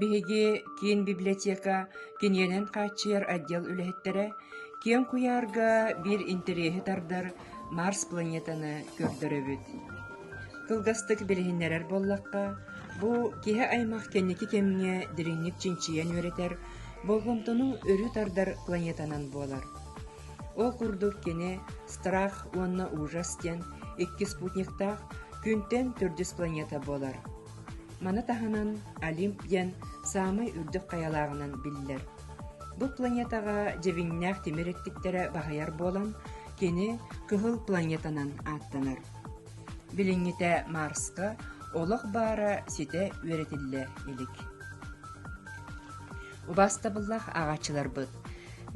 Биһиги киин библиотека киниэнэн хааччыйар отдел үлэһиттэрэ киэҥ куйаарга биир интэриэһи тардар Марс планетаны көрдөрөбүт. Кылгастык билиһиннэрэр буоллахха, бу киһи-аймах кэнники кэмҥэ дириҥник чинчийэн үөрэтэр, болҕомтону өрүү тардар планетанан буолар. Ол курдук кини «Страх уонна ужас» диэн икки спутниктаах күнтэн төрдүс планета буолар. Маны таһынан Олимп диэн саамай үрдүк хайалааҕынан биллэр. Бу планетаҕа дьэбиҥнээх тимир эттиктэрэ баһыйар буолан, кини Кыһыл планетанан ааттанар. Билиҥҥитэ Марска олох баара ситэ үөрэтиллэ илик. Убаастабыллаах ааҕааччыларбыт!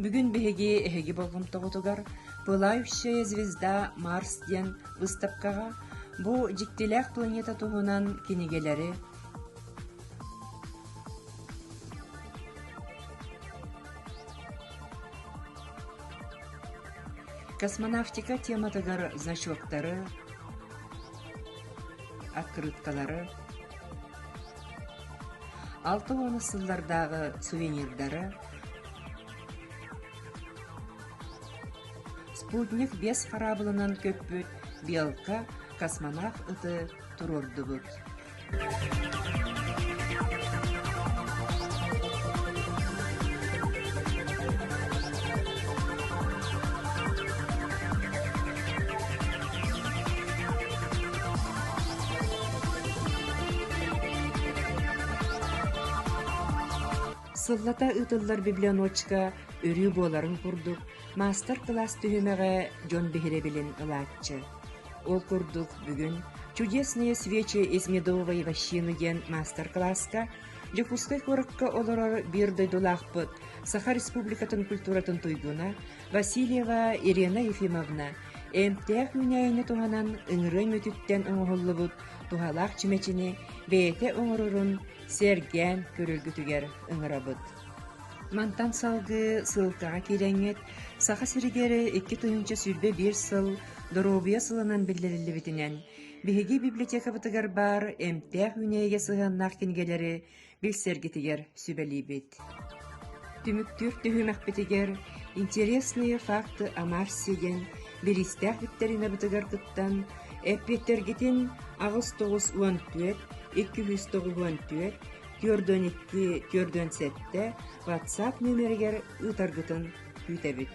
Бүгүн биһиги эһиги болҕомтоҕутугар «Пылающая звезда Марс» диэн быыстапкаҕа бу дьиктилээх планета туһунан кинигэлэри космонавтика тематыгар значоктары, открыткалары Алта уона сыллардааҕы сувенирдары «Спутник» биэс хараабылынан көппүт «Белка» космонавт ыты туруордубут. Сыллата ыытыллар библиотечка өрүү буоларын курдук, маастар-кылаас түһүмэҕэ дьон биһирэбилин ылааччы. Ол курдук, бүгүн «Чудесные свечи из медовой вощины» диэн маастар-кылааска Дьокуускай куоракка олорор биир дойдулаахпыт, Саха Республикатын культуратын туйгуна, Васильева Ирена Ефимовна эмтээх үүнээйини туһанан ыҥырыа мүтүттэн оҥоһуллубут туһалаах чүмэчини бэйэтэ оҥорорун сэргээн көрөргүтүгэр ыҥырабыт. Мантан салгыы ссылкаҕа киирэҥҥит Саха сиригэр икки тыһыынча сүүрбэ биир сыл доруобуйа сылынан биллэриллибитинэн биһиги библиотекабытыгар баар эмтээх үүнээйигэ сыһыаннаах кинигэлэри билсэргитигэр сүбэлиибит. Түмүктүүр түһүмэхпитигэр «Интересные факты о Марсе» диэн бириистээх викторинабытыгар кыттан, эппиэттэргитин аҕыс тоҕус уон түөрт икки үс тоҕус уон түөрт түөртөн икки түөртөн сэттэ WhatsApp нөмеригэр ыытаргытын күүтэбит.